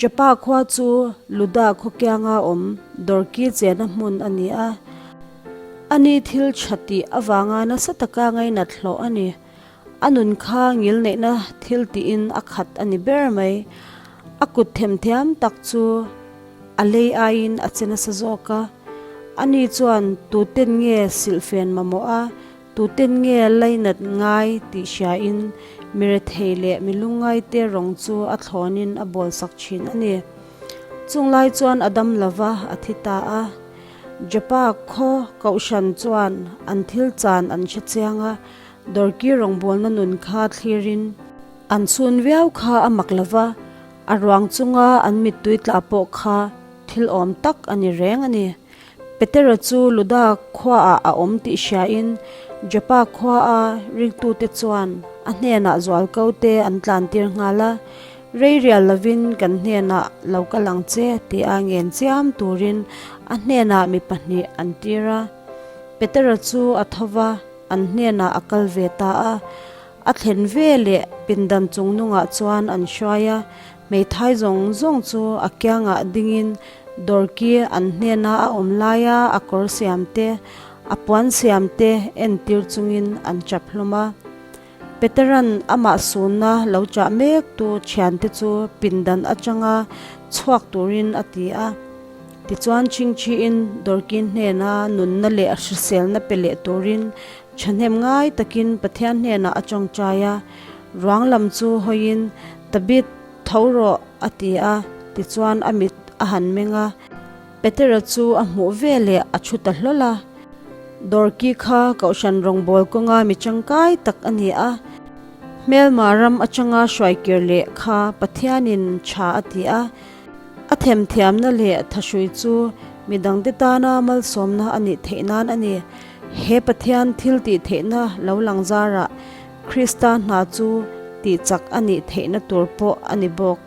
Joppa khua chu Luda khawkianga awm Dorki chena hmun a ni a, ani thil tha tih avanga nasa taka ngainat hlawh a ni. A nun kha ngil neihna thil tiin a khat a ni ber mai. A kut them thiam tak chu a lei aiin a che nasa zawk a. Ani chuan tuten nge silhfen mamawh a. Tuten nge lainat ngai tih hriain mirethei leh milungaite rawng chu a thlawnin a bawlsak thin a ni. Chunglai chuan a dam lova a thi ta a. Japa khaw Kohhran chuan an thil chan an hre chiang a, Dorky rawngbawlna nun kha thlirin an chhun viau kha a mak lova, a ruang chunga an mittui tla pawh kha thil awm tak a ni reng a ni. Petera chu Luda khuaah a awm tih hriain Joppa khuaa ringtute chuan a hnenah zual ko te an tlantir nghal a, Reirial lovin kan hnenah lo kal ang che, ti a ngenchiam turin a hnenah mi pahnih an tir a. Petera chu a tho va, an hnenah a kal ve ta a, a thlen veleh pindan chung nungah chuan an hruai a, Hmeithai zawng zawng chu a kiangah dingin Dorky an hnena a awm laia a kawr siam te, a puan siam te entir chungin an chap hlawm a. Peteran amah sunna lo chah mek tu thiante chu pindan atanga chhuak turin a ti a. Tichuan Chingchi-in Dorky hnena nunna leh hriselna pe leh turin thahnem ngai takin Pathian hnenah a tawngtai a. Ruang lam chu hawiin, Tabit, tho rawh, a ti a, tichuan a mit a han meng a. Petera chu a hmuh vel leh a thu ta hlawl a. Dorki kha kohhran rawngbawl kawnga mi tangkai tak a ni a, hmelma ram atanga hruai kir leh kha Pathianin tha a ti a. A themthiamna leh thahrui chu mi dangte tana malsawmna a nih theih nan a ni. He Pathian thiltih theihna lo lang zarah Krista hna chu tihchak a nih theihna tur pawh a ni bawk.